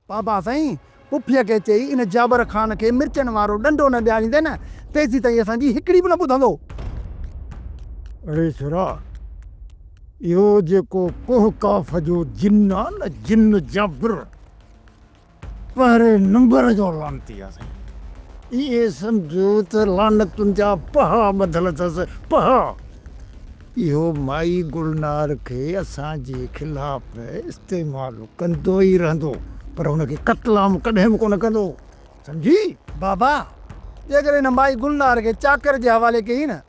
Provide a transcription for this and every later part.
بابا سائين پڦيء کي چئي ان جابر خان کي مرچن وارو ڏنڊو نه ڏياريندين نه، تيسيتائين اسان جي هڪڙي به نه ٻڌندو. اڙي ڇورا، اهو جيڪو ڪوهه ڪاف جو جن آ نه جن جابر، پهرين نمبر جو لعنتي آ سائين. ائين سمجهو ته لعنتن جا پها ٻڌل اٿس پها. اهو مائي گلنار کي اسان جي خلاف استعمال ڪندو ئي رهندو پر هن کي قتل عام ڪڏهن به ڪونه ڪندو سمجهي. بابا جيڪڏهن هن مائي گلنار کي چاڪر جي حوالي ڪيئي نه.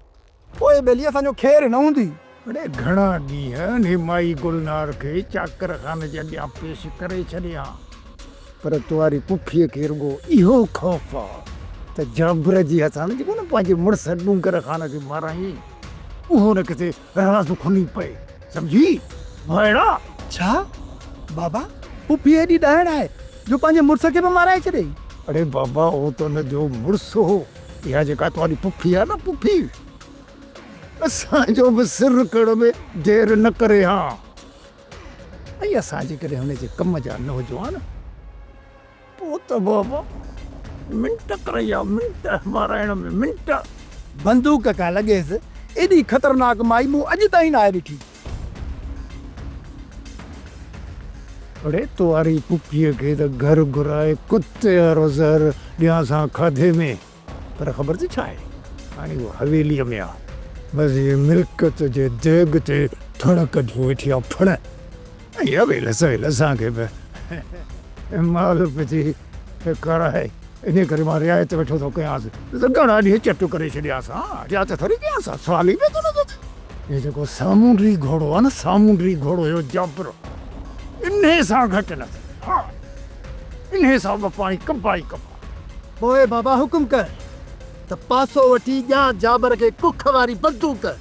پوء ٻيلي اسان جو خير نه هوندي. اڙي گهڻا ڏينهن نيمائي گلنار کي چاڪر خانه جي اڳيان پيش ڪري ڇڏيان پر توهاري ڪوڪيء کي رڳو اهو خوف آ ته جابر جي هٿان جيڪو نه پنهنجي مڙس ڏونگر خان کي مارائين اهو نه ڪٿي راز کني پئي سمجهي ڀائڙا! ڇا بابا هو پيء ايڏي ڏاهڙ آهي جو پنهنجي مڙس کي به مارائي ڇڏيئي؟ اڙي بابا هو ته ان جو مڙس هو اها جيڪا توهانجي پڦي آهي نه پڦي، اسان جو به سر رکڻ ۾ دير نه ڪري ها ۽ اسان جيڪڏهن هن جي ڪم جا نه هجون ها نه پوء ته بابا منٽ ڪريا منٽ مارائڻ ۾ منٽ. بندوق کان لڳيس ايڏي خطرناڪ مائي مون اڄ تائين ناهي ڏٺي. اڙي تواري پڦيء کي ته گهر گهرائي ڪتي وارو زهر ڏيانس ها کاڌي ۾، پر خبر اٿئي ڇا آهي؟ هاڻي هوء حويليء ۾ آ، مزي ملڪيت جي ديڳ تي ٿڙ ڪڍي ويٺي آ، ڦڙ! اها ويل سويل اسان کي به مال وجهي کارائي، انهيء ڪري مان رعايت ويٺو ٿو ڪيانس. گهڻا ڏينهن چٽ ڪري ڇڏيانس ها، رعايت ٿوري ڪيانس ها، سوال ئي پئي ٿو نظر اچي. هي جيڪو سامونڊي گهوڙو آهي نه، سامونڊي گهوڙو اهو جابرو، انهيء سان گهٽ نه ٿئي ها، انهيء سان ٻه پاڻي ڪبا ئي ڪبا. پوء بابا حڪم ڪر ته پاسو وٺي ڏيان جابر کي ڪک واري بندوق.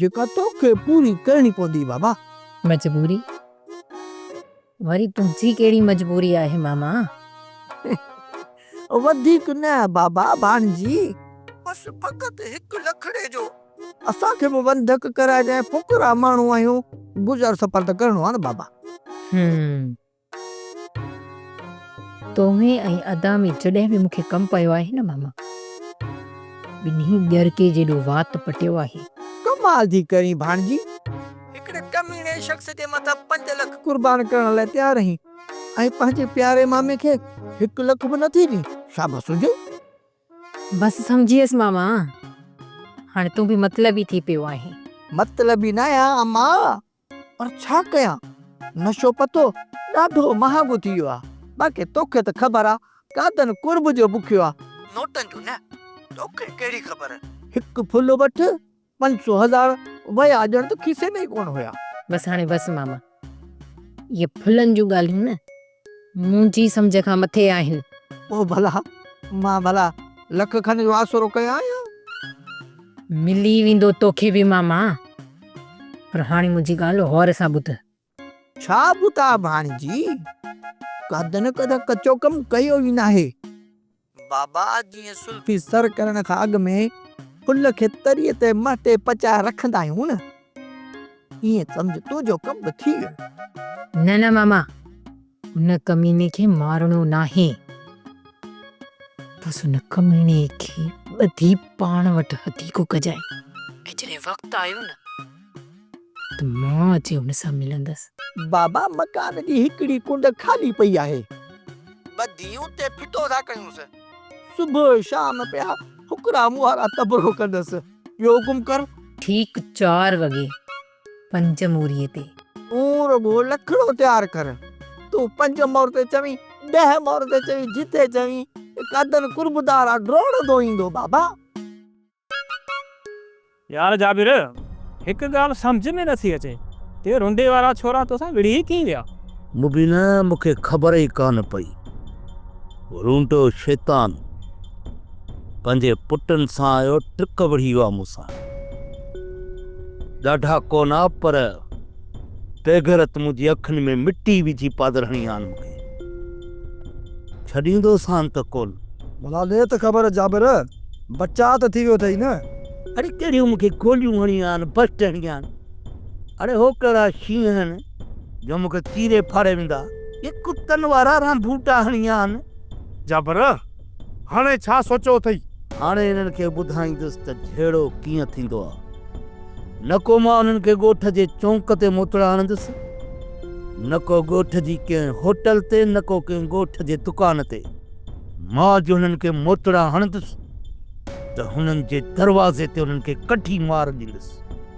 جيڪا توکي پوري ڪرڻي پوندي بابا. مجبوري؟ وري تنهنجي ڪهڙي مجبوري آهي ماما؟ وڌيڪ نه بابا ڀاڻجي بس فقط هڪ لکڙي جو اسان کي به وندڪ ڪرائجانء فقرا ماڻهو آهيون گذر سفر ته ڪرڻو آهي نه بابا. هم تو ۾ ۽ ادا ۾ جڏهن به مون کي ڪم پيو آهي نه ماما، ٻنهي ڄرڪي جيڏو وات پٽيو آهي. ڪمال ٿي ڪرين ڀاڻجي، هڪڙي ڪميڻي شخص جي مٿان پنج لک قربان ڪرڻ لاء تيار رهين ۽ پنهنجي پياري مامي کي هڪ لک به نه ٿي ڏين، شابس هجي. بس سمجهيس ماما، هاڻي تون به مطلبي ٿي پيو آهين. مطلبي نه آهيان امان، پر ڇا ڪيان نشو پتو ڏاڍو مهانگو ٿي ويو آ. باقي توکي ته خبر آ گادن قرب جو بکيو آ. نوٽن جون نه توکي ڪهڙي خبر. هڪ ڦل وٺ پنج سو هزار ويا ڄڻ ته کيسي ۾ ئي ڪونه هيا. بس هاڻي بس ماما اهي ڦلن جون ڳالهيون نه. منهنجي سمجهه کان مٿي آهن. او ڀلا! مان ڀلا لک کن جو آسرو ڪيو آهيان. ملي ويندو توکي به ماما. پر هاڻي منهنجي ڳالهه غور سان ٻڌ. ڇا ٻڌان ڀاڻيجي! ڪڌ نه ڪڌ ڪچو ڪم ڪيو ئي ناهي. بابا جيئن سلطان. تي سر ڪرڻ کان اڳ ۾ ان کي تريء تي مهٽي پچائي رکندا آهيون نه. ايئن سمجهه تنهنجو ڪم به ٿي ويو. نه نه ماما ان ڪميني کي مارڻو ناهي. بس ان ڪميني کي ٻڌي پاڻ وٽ هٿي ڪو ڪجانء ۽ جڏهن وقت آيو نه. ته مان اچي هن سان ملندس. بابا مڪان جي هڪڙي ڪنڊ خالي پئي آهي. ٻه ڌيئون تي ڦٽو ٿا ڪيونس. صبح شام پيا ڦڪرا موهارا تبرو ڪندس. ٻيو حڪم ڪر. ٺيڪ چار وڳي پنج موريء تي. تون رڳو لکڙو تيار ڪر. تون پنج مور تي چوين، ڏهه مور تي چوين، جتي چوين. قادن قربدار آ ڊوڙندو ايندو بابا. يار جابر! هڪ ڳالهه سمجهه ۾ نٿي اچي ته رنڊي وارا ڇورا توسان وڙهي ڪيئن ويا؟ مبينا مون کي خبر ئي ڪانه پئي. رونڊو شيطان پنهنجي پٽن سان اهو ٽرڪ وڙهي ويو آهي مون سان. ڏاڍا ڪونه پر ٽيگهرت منهنجي اکين ۾ مٽي وجهي پادر هڻي آن مون کي ڇڏيندو سان ته ڪول. ڀلا ڏي ته خبر جابر، بچاء ته ٿي ويو اٿئي نه؟ اڙي ڪهڙيون مون کي گوليون هڻي آن بسٽ هڻي آن. اڙي هو ڪهڙا شينهن آهن جو مون کي چيري ڦاڙي ويندا. اي ڪتن وارا رانڀوٽا هڻي آن. جابر! هاڻي ڇا سوچيو اٿئي؟ هاڻي انهن کي ٻڌائيندس ته جهيڙو ڪيئن ٿيندو آ. نڪو مان انهن کي ڳوٺ جي چونڪ تي موٽڻ آڻندس، نڪو ڳوٺ جي ڪنهن هوٽل تي، نڪو ڪنهن ڳوٺ جي دڪان تي. مان جو هنن کي موٽڙا هڻندس ته هنن جي دروازي تي انهن کي ڪڍي مار ڏيندس.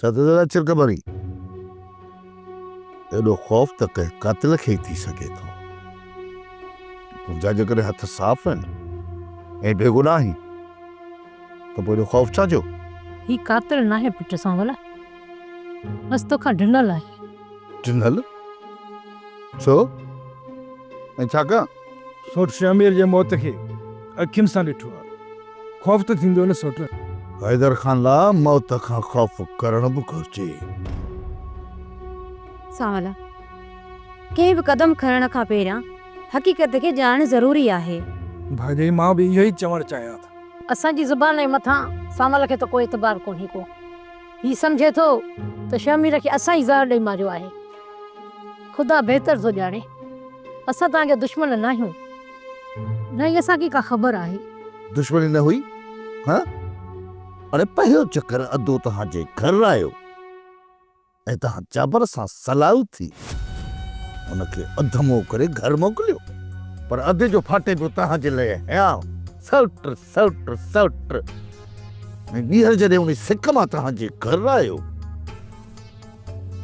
ڇا ته ذرا چرڪ ڀري ايڏو خوف ته ڪنهن قاتل کي ئي ٿي سگهي ٿو. تنهنجا جيڪڏهن هٿ صاف آهن ۽ بيگناهه آهين ته پوء ايڏو خوف ڇا جو؟ هي قاتل ناهي پٽ سانول، بس توکان ڊنل آهي. ڊنل؟ ڇو ۽ ڇاڪان؟ سوٽ شهمير جي موت کي اکين سان ڏٺو آهي. خوف ته ٿيندو نه سوٽ؟ حيدر خان لاء موت کان خوف ڪرڻ به گهرجي. سانولا، ڪنهن به قدم کڻڻ کان پهريان حقيقت کي ڄاڻڻ ضروري آهي. ڀاڄائي، مان به اهو ئي چوڻ چاهيان ٿو. اسان جي زبان ۽ مٿان سانول کي ته ڪو اعتبار ڪونهي ڪو. هي سمجهي ٿو ته شهمير کي اسان ئي زهر ڏئي ماريو آهي. خدا بهتر ٿو ڄاڻي. اسان توهان جا دشمن ناهيون. نه ئي اسان کي ڪا خبر آهي. دشمني نه هئي ها؟ اڙي پهريون چڪر ادو توهان جي گهر آيو ۽ توهان جابر سان صلاح ٿي هن کي اڌمو ڪري گهر موڪليو. پر ادي جو ڦاٽي پيو توهان جي لئي هيانء سئوٽ سئٽ سئٽ ۽ ٻيهر جڏهن انهي سڪ مان توهان جي گهر آيو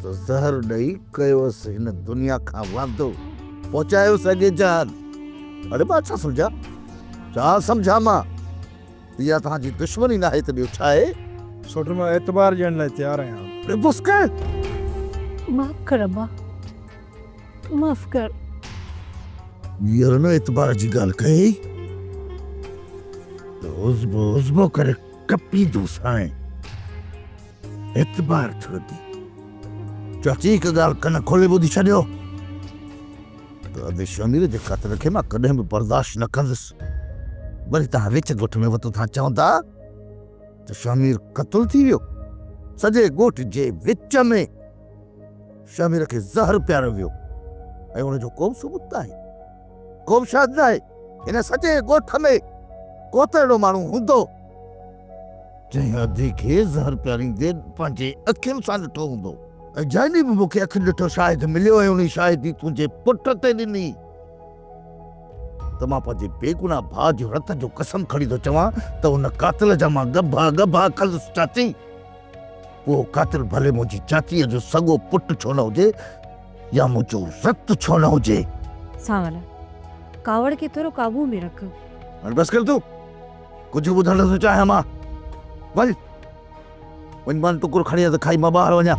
ته زهر ڏئي ڪيوس هن دنيا کان واندو پهچايوس اڳي جهان اڙي مان ڇا سمجهان ڇا سمجهان مان اها توهان جي دشمني ناهي ته ٻيو ڇا آهي سئٽ مان اعتبار ڏيڻ لاء تيار آهيان. اڙي بسڪي! معاف ڪر ابا. معاف ڪر. ٻيهر نه اعتبار جي ڳالهه ڪئي ته عضبو عضبو ڪري ڪپيندوسانء. اعتبار ٿيو ٿي. چاچي هڪ ڳالهه ڪن کولي ٻڌي ڇڏيو ته ادي شمير جي قتل کي مان ڪڏهن به برداشت نه ڪندس. وري توهان وچ ڳوٺ ۾ وتو ٿا چوندا ته شمير قتل ٿي ويو. سڄي ڳوٺ جي وچ ۾. شهمير کي زهر پياريو ويو ۽ ان جو ڪوبه ثبوت ناهي، ڪوبه شاهد ناهي. هن سڄي ڳوٺ ۾ ڪوته اهڙو ماڻهو هوندو، جنهن ادي کي زهر پياريندي پنهنجي اکين سان ڏٺو هوندو ۽ جنهن ڏينهن به مون کي اکين ڏٺو شاهد مليو ۽ انهي شاهدي تنهنجي پٽ تي ڏني ته مان پنهنجي بيگناهه ڀاء جي رت جو قسم کڻي ٿو چوان ته ان قاتل جا مان ڳڀا ڳڀا کندس چاچي. اهو قاتل ڀلي منهنجي چاچيء جو سڳو پٽ ڇو نه هجي يا منهنجو رت ڇو نه هجي. سانول! ڪاوڙ کي ٿورو قابو ۾ رک. هاڻي بس ڪر تون. ڪجهه ٻڌڻ نٿو چاهيان مان. وڃ. وڃ مان ٽڪر کڻي ته کائي مان ٻاهر وڃان.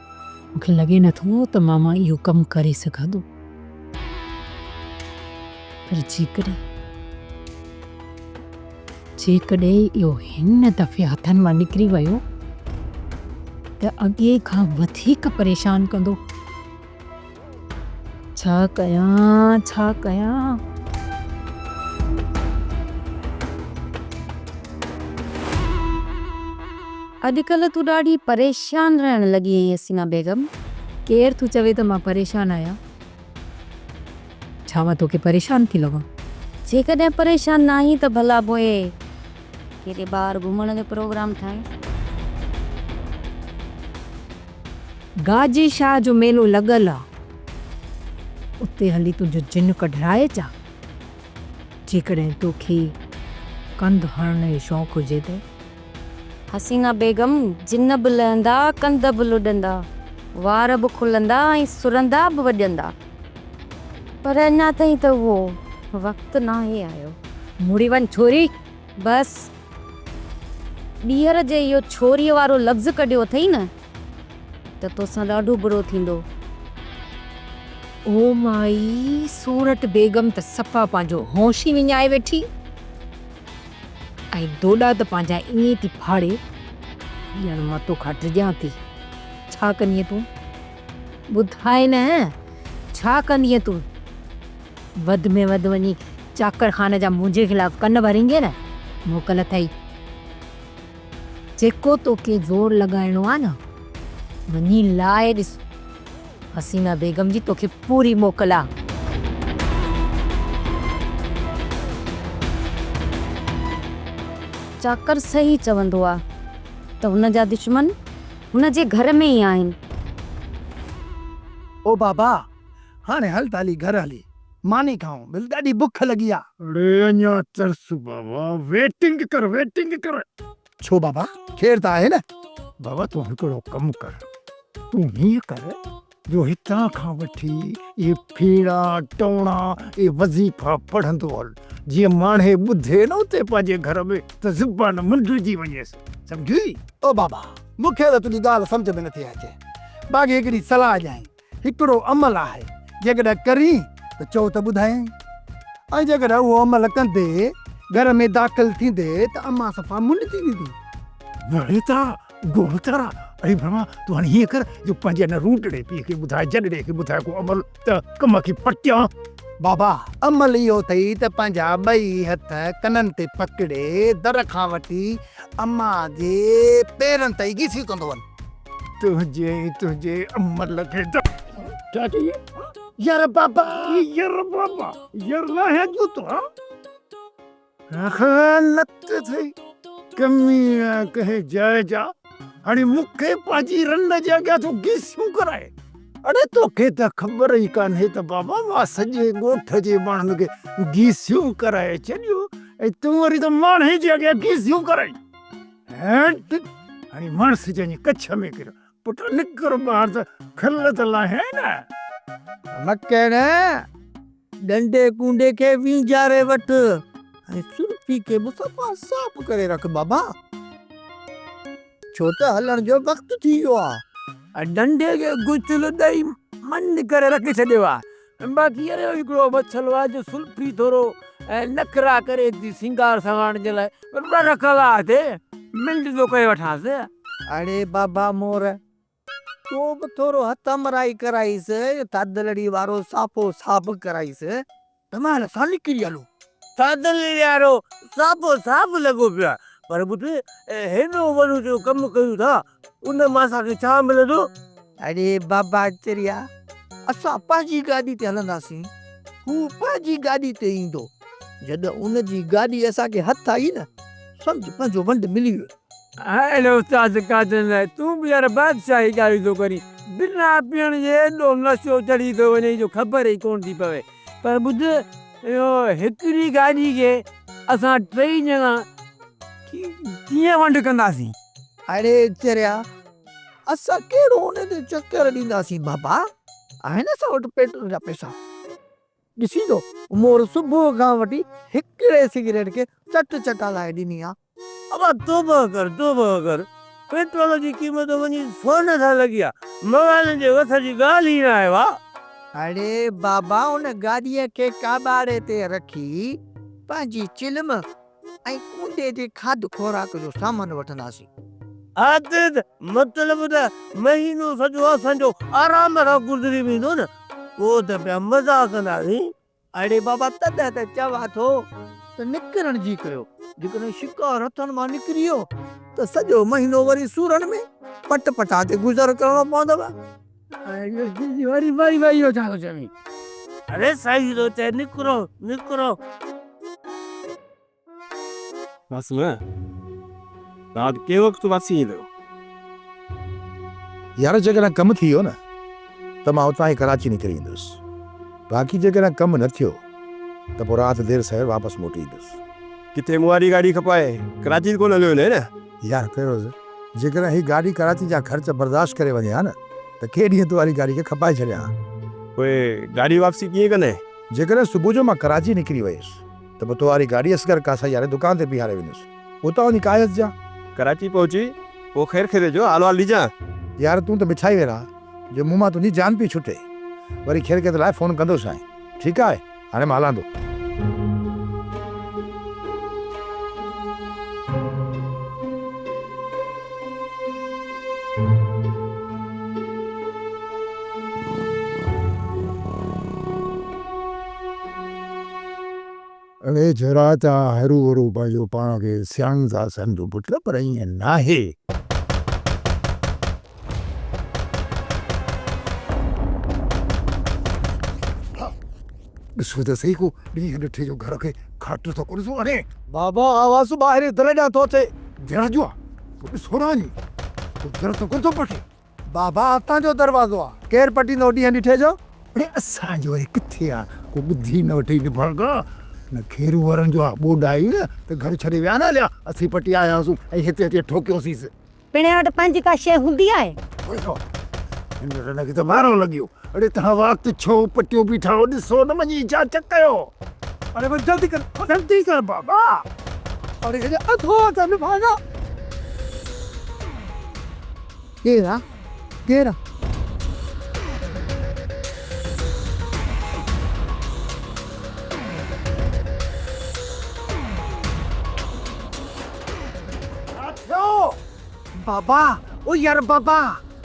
مون کي لڳي نه ٿو ته ماما اهو ڪم ڪري سگهندو. پر جيڪڏهن جيڪڏهن اهو هن دفعي هٿن مان نڪري ويو ته اڳي کان وڌيڪ پريشان ڪندو. ڇا ڪيان ڇا ڪيان. اڄ ڪلهه تون ڏاڍي پريشان رهڻ لڳي آهين حسينا بيگم. ڪير ٿو چوي ته مان پريشان آهيان؟ ڇا مان توکي پريشان ٿي لڳان؟ جيڪڏهن پريشان ناهين ته ڀلا پوء. ڪيڏي ٻاهر گهمڻ جو پروگرام ٺاهيون. گاجي شاهه جو ميلو لڳل آ اتي هلي تنهنجو جن ڪڍرائي اچان جيڪڏهن توکي ڪنڌ هڻڻ جو شوق هجي ته. حسينه بيگم جن به لهندا ڪنڌ به لڏندا وار به کلندا ۽ سرندا به وڄندا. پر اڃا تائين ته اهو وقت ناهي آيو. مڙي وڃ ڇوري! بس! ٻيهر جي اهو ڇوريء وارو لفظ ڪڍيو اٿئي نه ته توسان ڏاڍو برو ٿيندو. او مائي! سورٺ بيگم ته صفا پنهنجو هوش ئي وڃائي ويٺي ۽ دوڏا ته پنهنجا ائين ٿي ڦاڙي، ڄڻ مان توکان ڊڄان ٿي. ڇا ڪندينء تون؟ ٻڌاء نه، ڇا ڪندينء تون؟ وڌ ۾ وڌ وڃي چاڪر خان جا منهنجي خلاف ڪن ڀريندينء نه؟ موڪل اٿئي. جيڪو توکي زور لڳائڻو آ نه، وڃي لاء ڏس. حسينه بيگم جي توکي پوري موڪل آ. چاڪر صحيح چوندو آ ته هن جا دشمن هن جي گهر ۾ ئي آهن. او بابا! هاڻي هل ته هلي گهر هلي ماني کائون، ڀل ڏاڍي بک لڳي آ. اڙي اڃا ترس بابا، ويٽنگ ڪر ويٽنگ ڪر. ڇو بابا، خير ته آهي نه؟ بابا تون هڪڙو ڪم ڪر، تون هيئن ڪر جو هتان کان وٺي اهي ڦيڻا، ٽوڻا ۽ وظيفا پڙهندو هل، جيئن ماڻهي ٻڌي نه اتي پنهنجي گهر ۾ ته زبان منڊجي وڃيس. سمجهيئي؟ او بابا، مون کي ته تنهنجي ڳالهه سمجهه ۾ نٿي اچي. باقي هڪڙي صلاح ڏيانء. هڪڙو عمل آهي، جيڪڏهن ڪرين ته چئو ته ٻڌايانء. ۽ جيڪڏهن اهو عمل ڪندي، گهر ۾ داخل ٿيندي ته امان صفا منڊجي ويندي. وڙي ته گوهوتر، اڙي برهما، تون هاڻي هيئن ڪر جو پنهنجي ان روٽڙي پيء کي ٻڌاء، جڏڙي کي ٻڌاء ڪو عمل ته ڪم کي پٽيان. بابا، عمل اهو اٿئي ته پنهنجا ٻئي هٿ ڪنن تي پڪڙي، در کان وٺي امان جي پيرن تائين گيسيون ڪندو وڃ. تنهنجي ۽ تنهنجي عمل کي ته. ڇا چئي؟ ير بابا! ير بابا! ير ناهيان جوتو، هان؟ خيانت ٿئي ڪمي نه ڪنهن جاء جا هاڻي مون کي پنهنجي رند جي اڳيان ٿو گيسيون ڪرائين اڙي توکي ته خبر ئي ڪانهي ته بابا مان سڄي ڳوٺ جي ماڻهن کي گيسيون ڪرائي ڇڏيون ۽ تون وري ته ماڻهي جي اڳيان گيسيون ڪرائين هيٽ هاڻي ماڻس جنهن جي ڪڇ ۾ ڪريو پٽ نڪر ٻاهر ته کل ته لاهي نه. مڪڙ، ڏنڊي ڪونڊي کي وينجهاري وٺ ۽ سرفي کي به صفا صاف ڪري رک بابا، ڇو ته هلڻ جو وقت ٿي ويو آهي. ڏنڊي کي غسل ڏئي منڊ ڪري رکي ڇڏيو آهي. باقي اهڙو ئي هڪڙو مڇلو آهي جو سلفي ٿورو ۽ نخرا ڪري ٿي سينگار سواڻ جي لاء ٻه رکلا اٿي منڊ ٿو ڪري وٺانس. اڙي بابا مور تو به ٿورو هٿ همراهي ڪرائيس اهو ٿڌڙي وارو صافو صاف ڪرائيس. دماغ سان نڪري هلو. ٿڌڙي وارو صافو صاف لڳو پيو آهي پر پٽ هيڏو وڏو جو ڪم ڪيون ٿا. ان مان اسان کي ڇا ملندو؟ اڙي بابا چريا، اسان پنهنجي گاڏي تي هلنداسين، هو پنهنجي گاڏي تي ايندو. جڏهن ان جي گاڏي اسان کي هٿ آئي نه، سمجهه پنهنجو ونڊ ملي ويو. هيل استاد قادر نائين، تون به يار بادشاهي ڳالهيون ٿو ڪرين. بنا پيئڻ جي ايڏو نشو چڙهي ٿو وڃئي جو خبر ئي ڪونه ٿي پوي. پر ٻڌ، اهو هڪڙي گاڏي کي اسان ٽيئي ڄڻا ڪيئن ونڊ ڪنداسين؟ اڙي چريا اسان ڪهڙو انهن جو چڪر ڏينداسين بابا آهن اسان وٽ پيٽرول جا پئسا ڏسين ٿو مور صبح کان وٺي هڪڙي سگريٽ کي چٽ چٽا لاهي ڏني آ. ابا توبه ڪر توبه ڪر پيٽرول جي قيمت وڃي سون سان لڳي آ موالن جي وس جي ڳالهه ئي ناهي وا. اڙي بابا ان گاڏيء کي ڪاٻاڙي تي رکي پنهنجي چلم ۽ ڪوٽي جي کاڌ خوراڪ جو سامان وٺنداسين. عادد، مطلب ته مهينو سڄو اسان جو آرام سان گذري ويندو نه؟ پوء ته پيا مزا ڪنداسين. اڙي بابا تڏهن ته چوان ٿو ته نڪرڻ جي ڪيو. جيڪڏهن شڪار هٿن مان نڪري ويو ته سڄو مهينو وري سورن ۾ پٽ پٽا تي گذر ڪرڻو پوندو. يار جيڪڏهن ڪم ٿي ويو نه ته مان اتان ئي ڪراچي نڪري ايندس باقي جيڪڏهن ڪم نه ٿيو ته پوء رات دير سوير واپس موٽي ايندس. ڪٿي مون واري گاڏي کپائي ڪراچي ته ڪونه هليو وڃين. يار فيروز جيڪڏهن هي گاڏي ڪراچي جا خرچ برداشت ڪري وڃي ها نه ته ڪي ڏينهن تون واري گاڏي کي کپائي ڇڏيان ها. پوء گاڏي واپسي ڪيئن ڪندين؟ جيڪڏهن صبح جو مان ڪراچي نڪري ويس ته پوء تو واري گاڏي اصغر ڪاسائي واري دڪان تي بيهاري ويندس اتان وڃي ڪاهي اچجان. ڪراچي پهچي پوء خير خيري جو حال احوال ڏجان. يار تون ته مٺائي ويران جو مون مان تنهنجي جان پئي ڇٽي. وري خير خيريت لاء فون ڪندوسانء ٺيڪ آهي. هاڻي مان هلان ٿو. اڙي ڇورا تون هرو ڀرو پنهنجو پاڻ کي سياڻ ٿا سمجهون پٽ پر ائين ناهي. ڏسو ته سهي ڪو ڏينهن ڏٺي جو گهر کي کاٽيو ته ڪونه ٿو اڻي. بابا آواز ٻاهرين در ڏانهن ٿو اچي. در جو آ پوء ڏسو نه وڃي ڪو در ته ڪونه ٿو پٽي. بابا اتان جو دروازو آ ڪير پٽيندو ڏينهن ڏٺي جو. اڙي اسان جو وري ڪٿي آ ڪو ٻڌي نه وٺي نڀاڳا نه کيرو وارن جو آ ٻوڏا اي نه ته گهر ڇڏي ويا نه هليا اسين پٽي آياسون ۽ هتي اچي ٺوڪيوسيس. پڻهين وٽ پنهنجي ڪا شيء هوندي آهي. ڏسو، هن رنه کي ته مارو لڳيو. اڙي توهان وات ڇو پٽيو بيٺا آهيو، ڏسو نه وڃي ڇا چڪ ڪيو. اڙي بس جلدي ڪر، جلدي ڪر بابا. اڙي هيڏي اڌو ته نڀاء نه. ڪير آ، ڪير آ. ڇا ٿيو؟ بابا، او يار بابا!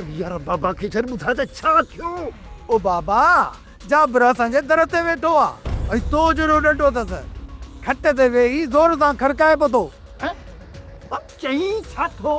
يار بابا کي ڇڏ، ٻڌاء ته ڇا ٿيو؟ او بابا، جابر اسان جي در تي ويٺو آ ۽ تو جهڙو ڏنڊو ٿس. کٽ تي ويهي زور سان کڙڪائي پتو. هه! چئين ڇا ٿو؟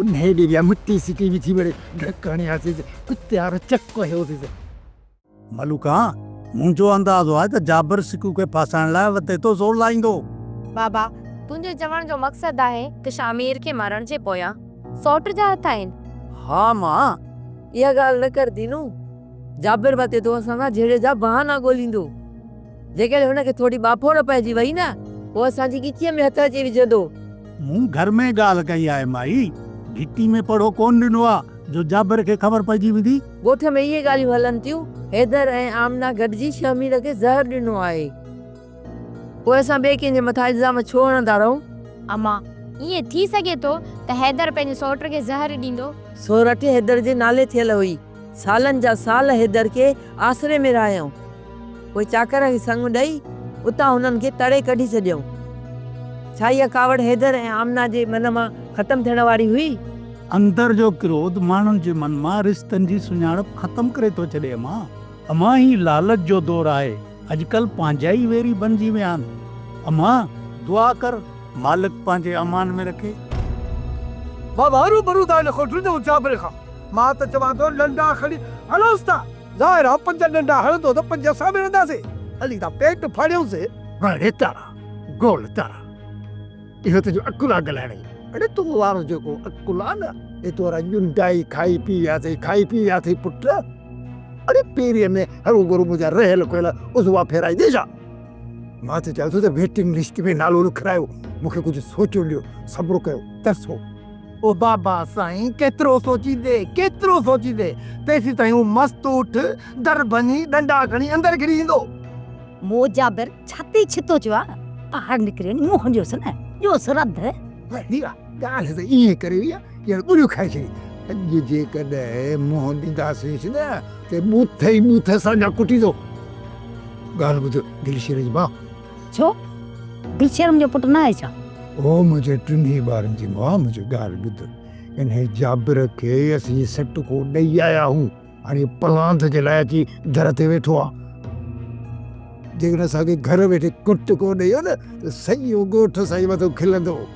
انهيء ڏينهن جا مٽي سٽي وجهي مڙئي ڍڪ هڻي آياسيس. ڪتي وارو چڪ هيوسيس. ملوڪا، منهنجو اندازو آهي ته جابر سڪو کي ڦاسائڻ لاء وتي تو زور لائيندو. بابا، تنهنجي چوڻ جو مقصد آهي. ته شامير کي مارڻ جي پويان سئوٽ جا هٿ آهن. ها مان. اها ڳالهه نه ڪر دينو. جابر وتي تو اسان سان جهيڙي جا بهانا ڳوليندو. جيڪڏهن هن کي ٿوري ٻاڦوڙ پئجي وئي نه، پوء اسان جي ڳچيء ۾ هٿ اچي وجهندو. مون گهر ۾ ڳالهه ڪئي آهي مائي. گهٽي ۾ پڙهو ڪونه ڏنو آ جو جابر کي خبر پئجي ويندي. ڳوٺ ۾ اهي ڳالهيون هلن ٿيون. حيدر ۽ آمنه گڏجي شهمير کي زهر ڏنو آهي. پوء اسان ٻئي ڪنهن جي مٿان الزام ڇو هڻندا رهون؟ امان، ائين ٿي سگهي ٿو ته حيدر پنهنجي سئوٽ کي زهر ڏيندو. سئوٽ حيدر جي نالي ٿيل هئي. سالن جا سال حيدر کي آسري ۾ رهايائون. پوء چاڪر کي سڱ ڏئي، اتان هنن کي تڙي ڪڍي ڇڏيائون. ڇا اها ڪاوڙ حيدر ۽ آمنه جي من مان ختم ٿيڻ واري هئي؟ اندر جو ڪروڌ ماڻهن جي من مان رشتن جي سڃاڻپ ختم ڪري ٿو ڇڏي امان! امان هي لالچ جو دور آهي، اڄڪلهه پنهنجا ئي ويري بنجي ويا آهن امان! دعا ڪر مالڪ پنهنجي امان ۾ رکي. مان ٻاهرون پرون ٿا نڪرون ٽنڊي اونچاپري کان. مان ته چوان ٿو ڏنڊا کڻي هڻوس ٿا. ظاهر آ پنج ڏنڊا هڻندو ته پنج اسان به هڻنداسين. هلي ٿا پيٽ ڦاڙيون سين. وڙي تارا گول تارا اهو تنهنجو عقل آ ڳالهائڻ جو. اڙي تو وارو جيڪو عقل آ نه اهي تو ورا ڏنڊا ئي کائي پي ويا اٿئي کائي پي ويا اٿئي پٽ. اڙي پيري ۾ هرو برو منهنجا رهيل کهيل عضوا ڦيرائيندي ڇا. مان ته چوان ٿو ته ويٽنگ لسٽ ۾ نالو لکرايو مون کي ڪجهه سوچڻ ڏيو صبر ڪيو ترسو. او بابا سائين ڪيترو سوچيندي، ڪيترو سوچيندي، تيسين تائين هو مست اٺ، در ڀڃي، ڏنڊا کڻي اندر گھڙي ايندو. مون جابر ڇتي ڇتو چيو آ، ٻاهر نڪري منهن هنيوس نه، جو سرڌ. ڀيرا، ڳالهه ته ائين ڪري وئي آ، ڄڻ ٻريون کائي ڇڏي. اڄ جيڪڏهن منهن ڏينداسينس نه ته ٻوٿ ئي ٻوٿ اسان جا ڪٽيندو. ڳالهه ٻڌ دلشير جي ماء! ڇو گلشيرم جو پٽ نه آهي ڇا؟ اهو منهنجي ٽنهي ٻارن جي ماء منهنجي ڳالهه ٻڌو. انهيء جابر کي اسين سٽڪو ڏئي آيا آهيون. هاڻي پلاند جي لاء اچي در تي ويٺو آهي. جيڪڏهن اسان کي گهر ويٺي ڪٽڪو ڏئي هو نه ته سڄو ڳوٺ اسان جي مٿو کلندو هو.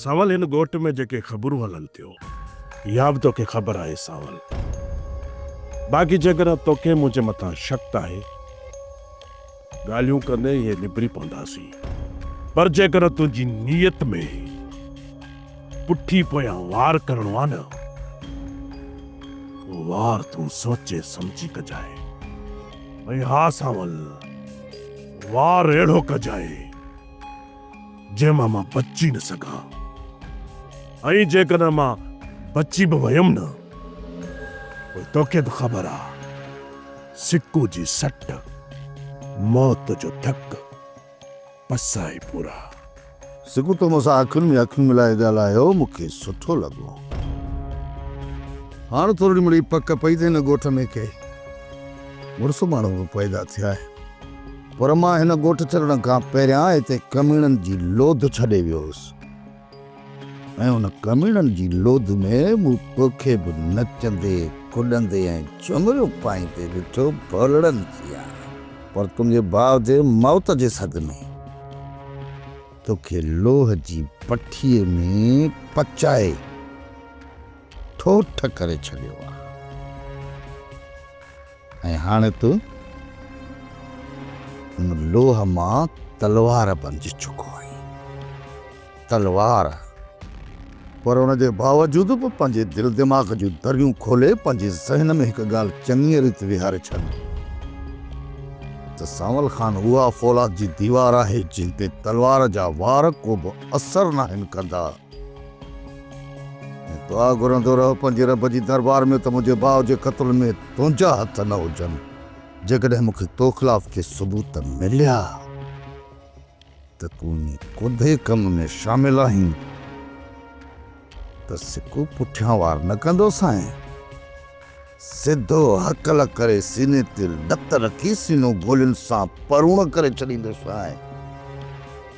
سانول هن ڳوٺ ۾ جيڪي خبرون هلن ٿيون اها به توکي خبر آهي سانول. باقي جيڪڏهن توکي منهنجي مٿان شڪ آهي ڳالهيون ڪندي اهي نبري پونداسين پر جيڪڏهن تنهنجي نيت ۾ پٺي پويان وار ڪرڻو آهي نه اهو وار تون سوچي سمجهي ڪجانء ۽ ها سانول وار اهڙو ڪجانء جنهن مان مان بچي نه سگهان ۽ جيڪڏهن مان بچي به ويم نه پوء توکي به خبر آ سڪو جي سٽ موت جو ڌڪ بس آهي پورا. سڪو تو مون سان اکين ۾ اکيون ملائي ڳالهايو مون کي سٺو لڳو. هاڻ ٿورڙي مڙئي پڪ پئي ته هن ڳوٺ ۾ ڪي مڙس ماڻهو به پيدا ٿيا آهن. پر مان هن ڳوٺ ڇڏڻ کان پهريان هتي ڪميڻن جي لوڌ ڇڏي ويو هوس ۽ ان ڪميڻن جي لوڌ ۾ مون توکي به نچندي، ڪڏندي ۽ چمريون پائيندي ڏٺو ڀولڙن جيان. پر تنهنجي ڀاء جي موت جي صدمي توکي لوهه جي پٺيء ۾ پچائي ٺوٺ ڪري ڇڏيو آهي. ۽ هاڻي تون ان لوهه مان تلوار بنجي چڪو آهين. تلوار پر ان جي باوجود به پنهنجي دل دماغ جون دريون کولي پنهنجي ذهن ۾ هڪ ڳالهه چڱيء ريت ويهاري ڇڏ ته سانول خان اها فولاد جي ديوار آهي جنهن تي تلوار جا وار ڪوبه اثر ناهن ڪندا. دعا گهرندو رهه پنهنجي رب جي دربار ۾ ته منهنجي ڀاء جي قتل ۾ تنهنجا هٿ نه هجن. جيڪڏهن مون کي تو خلاف ڪي ثبوت مليا ته تون انهي ڪوڌي ڪم ۾ شامل آهين ته سڪو پٺيان وار نه ڪندوسانء. سڌو هڪل ڪري سيني تي لت رکي سينو گولين سان پروڻ ڪري ڇڏيندوسانء.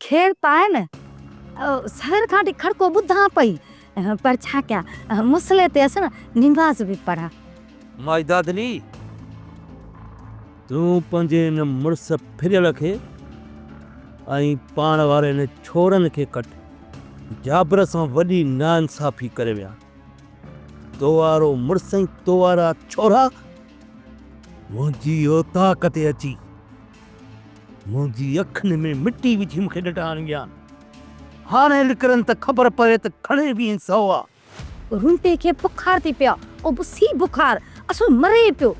کير پائين، سحر کان وٺي کڙڪو ٻڌان پئي، پر ڇا ڪيان، مصلي تي هئس، نماز به پڙهان. ماجده دلي! تون پنهنجي ان مڙس ڦريل کي ۽ پاڻ واري ان ڇورن کي ڪٽ، جابر سان وڏي ناانصافي ڪري ويا. تو وارو مڙس ۽ تو وارا ڇورا منهنجي اوطاق تي اچي. منهنجي اکين ۾ مٽي وجهي مون کي ڏٽا هڻي ويا. هاڻي لڪرن ته خبر پوي ته کڻي به ائين سو آ. رونٽي کي بخار ٿي پيو آ. او بس هي بخار اصل مري پيو.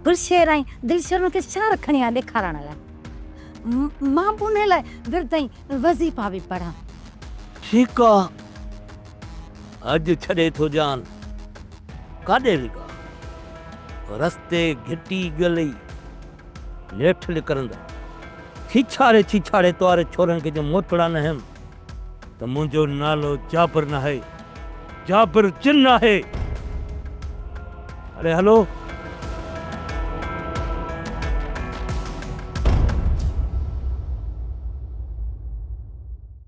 بلشير ۽ دلشرن کي شهر کڻي آ ڏيکارڻ لاء. مان به انهي لاء ورد ۽ وظيفا به پڙهان. ٺيڪ آ. اڄ ڇڏي ٿو جان. ڪاڏي لڳا؟ رستي گهٽي ڳلئي. نيٺ نڪرندي ڇيڇاڙي ڇيڇاڙي تواري ڇورن کي جو موٽڙا نه هيم ته منهنجو نالو جابر ناهي جابر جن آهي اڙي هلو.